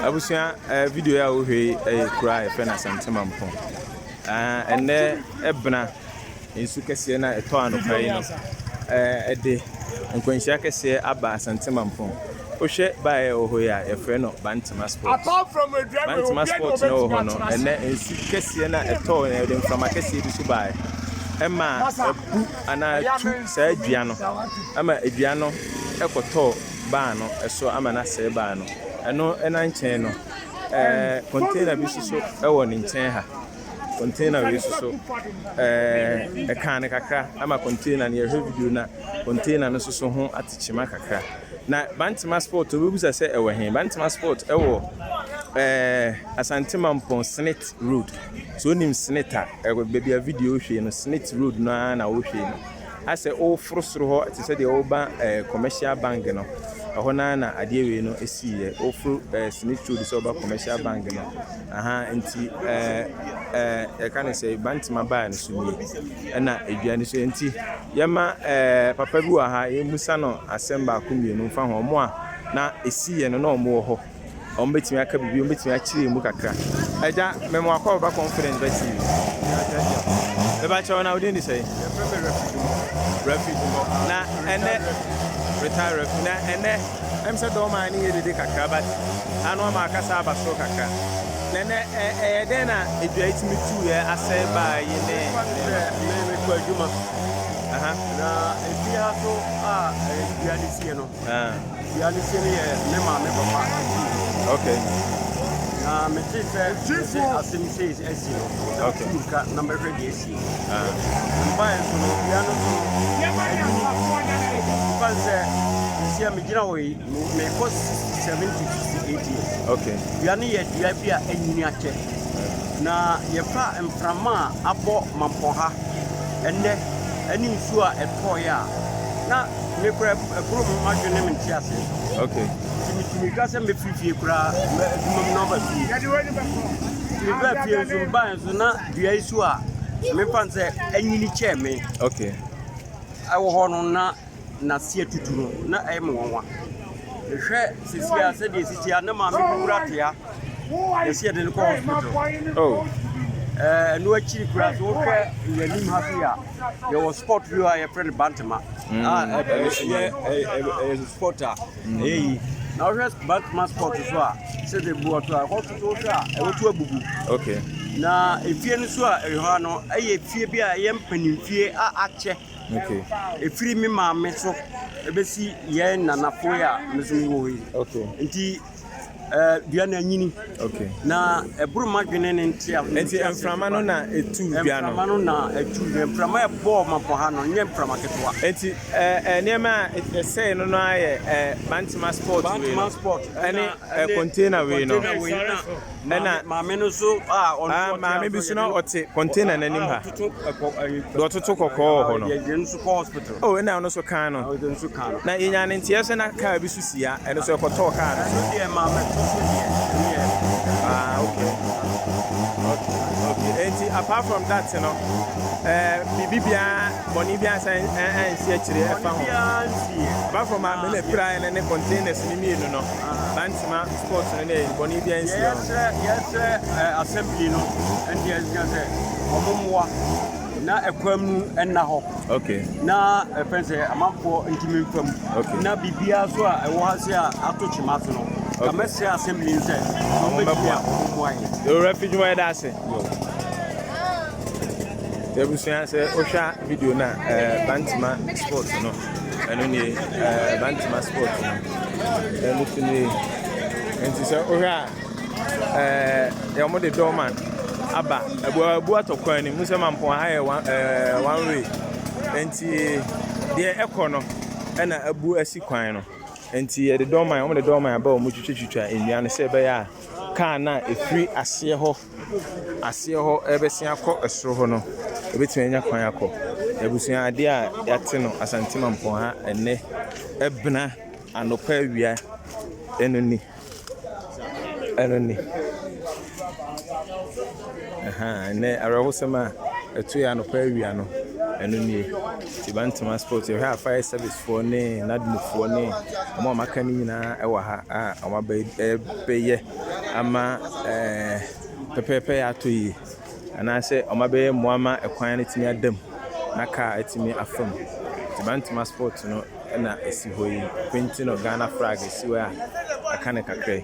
abusua ɛɛ eh, video yi a wohwɛ yi ɛyɛ eh, kura a yɛfrɛ no asantema mpɔ ah, ɛnɛ ɛbena nsu kɛseɛ no a ɛtɔ anɔpa yi no eh, ɛde nkwanhyia kɛseɛ aba asantema mpɔ wohwɛ baeɛ wɔ hɔ yi a yɛfrɛ no bantema sport bantema sport no wɔ hɔ no ɛnɛ nsu kɛseɛ no a ɛtɔ ɛde mframa kɛseɛ bi so baeɛ ɛma ɛbu anaa ɛtu saa dua no ɛma dua no ɛkɔtɔɔ baa no so ama no asɛe baa no. Ɛno na nkyɛn no, ɛɛ, container bi nso so wɔ ne nkyɛn ha. Container wei nso so, ɛɛ, ɛkaa no kakra ama container no yɛhwɛ video na container no nso so ho atekyema kakra. Na Bantema sport obɛbusa sɛ ɛwɔ he? Bantema sport ɛwɔ ɛɛ Asante Mampɔn Senate Road. So onim Senate a, ɛwɔ baabi a video hwee no Senate Road no ara na wohwee no. Asɛ woforo soro hɔ te sɛ deɛ woba eh, commercial bank no, ɛhɔ no ara na adeɛ wei no siiɛ. Woforo eh, Smith Road sɛ woba commercial bank no, aha, nti eh, eh, yɛka no sɛ Bantama baa no so nie, ɛna edwa no so. Nti yɛma eh, papa bi wɔ ha, yɛmmusa no asɛm baako mmienu mfa ho, wɔn a na ɛsiiɛ no na wɔn wɔ hɔ. Wɔbɛtumi aka biribi, wɔbɛtumi akyerɛ mu kakra. Agya, me mo akɔ ɔba confidence bɛ TV. Bɛba kyɛw na wodin de sɛ? Yɛfrɛ me Rafi Dumɔ. Rafi Dumɔ. Na ɛnɛ retire Rafi. Na ɛnɛ ɛm sɛ dɔm a ne yɛ dede kakra but ano ama akasa aba soro kakra. Na ɛnɛ ɛyɛ dɛn na adwa etumi tu yɛ asɛ baa yi ne. Me me kɔ adwuma. Aha. Na efi ha so a adwa ne sie no. Dua no sie no yɛ me maame papa akyi. Okay. Na mete sɛ mete asɛm sei asi no. Okay. Mete ka na mɛhwɛ deɛ asi. Mbaeɛ nso no dua no so ɛyi fan sɛ nsia megyina hɔ yi mekɔ 70 68 years. Okay. Dua no yɛ dua bi a ɛnyini akyɛ. Na yɛfa mframa a abɔ mampɔha ɛnɛ ɛne nsuo a ɛtɔɔeɛ a na Me kura kuro mu adwene me nte ase. Okay. Ti mi ti mi ka sɛ mɛfiri fie koraa mɛ adwuma mu na ɔba fie. Ti mi ba fie nso mi ba nso na dua yi so a mi fa n sɛ ɛnyini kyɛɛ mi. Okay. Ɛwɔ hɔ no na na si atutu no na ɛyɛ mi wɔn wa. Ehwɛ sisi a sɛ deɛ sisi a ne maame bi kura te a yɛsi yɛde no kɔ hospital. Oh. Ɛɛ ɛnu akyiri kura so wohwɛ yɛn anim ha fi a. yɛwɔ sport bi a yɛfrɛ no bantama mm. ah, a ɛyɛ sport a ɛyɛ yi na wohwɛ bantama sport so a sɛde bu ɔto a ɛkɔ toto so a ɛwoto abubu na efie no so a ɛwɔ ha no ɛyɛ fie bi a ɛyɛ mpanimfie a akyɛ efiri me maame so ɛbɛsi yɛn nanafo yi a mesom wɔ yi nti dua no anyini. Okay. Na ɛboro m'adwene ne ntia. Nti mframa no na etu dua no. Mframa no na etu dua. Mframa ɛbɔɔ mapɔ ha no nyɛ mframa ketewa. Nti ɛɛ nneɛma a ɛsɛɛ no no ayɛ ɛɛ bantama sport wei no. Bantama sport. Ɛne ɛɛ container wei no. ɛna maame no so a ɔno maame bi so na ɔte container n'anim ha deɛ ɔtoto kɔkɔɔ wɔ hɔ no o ɛna ɔno so kan no na yɛnya ne nteɛ so na kaa bi so si ha ɛno so ɛkɔtɔɔ kaa no so ah okay okay enti apart from that no ɛɛ biribi biara bɔnne biara san ɛnsi akyire ɛfa ho apart from maame na pira ne ne containers ne mmienu no Mma sports no ne bɔne biara nsia wɔn. Yɛsrɛ yɛsrɛ ɛɛ assembly no ɛne ɛsika sɛ wɔn mmoa na ɛkwan mu ɛnna hɔ. Okay. Na ɛfɛn sɛ amanfoɔ ntumi nfa mu. Okay. Na biribiara so a ɛwɔ ha se a ato kyema so no. Okay. Na mɛsrɛ assembly no sɛ wɔn bɛtumi a wɔn mmoa yɛ. Ewura fi dwuma yɛda ase. Ebusua sɛ wohwɛ video na ɛɛ eh, bantima sports no. Ɛno nie ɛɛ Bantama sport no ɛno so nie nti sɛ wohwɛ a ɛɛ yɛ wɔn de dɔɔma aba abu abu atɔ kwan no mu sɛ mampɔn ha yɛ one ɛɛ one way nti deɛ ɛkɔ no ɛna abu asi kwan no nti yɛde dɔɔma wɔn de dɔɔma aba wɔn twitwitwa nnua no sɛ ɛbɛyɛ a kaa no a efiri aseɛ hɔ. aseɛ hɔ rebɛsen akɔ soro hɔ no, yɛbɛtumi anya kwan akɔ. Abusua adeɛ a yɛate no Asante Mampong ha ɛnnɛ, ɛbena anɔpa awia, ɛno ni, ɛno ni. Ahaa, ɛnnɛ awerɛhosɛm a ɛto yɛ anɔpa awia no, ɛno nie. Nti Bantama Sports, yɛhwɛ a fire service foɔ ne NADMO foɔ ne wɔn a wɔaka no nyinaa wɔ ha a wɔabɛ ɛbɛyɛ. ama pɛpɛɛpɛ yɛ atɔ yie anaasɛ wɔn abɛyɛ mmoa ama ɛkwan no atumi ada mu na car atumi afa mu. Nti Bantama spot no na ɛsi hɔ yi. Wɔapenti no Ghana flag si hɔ yi a aka no kakra yi.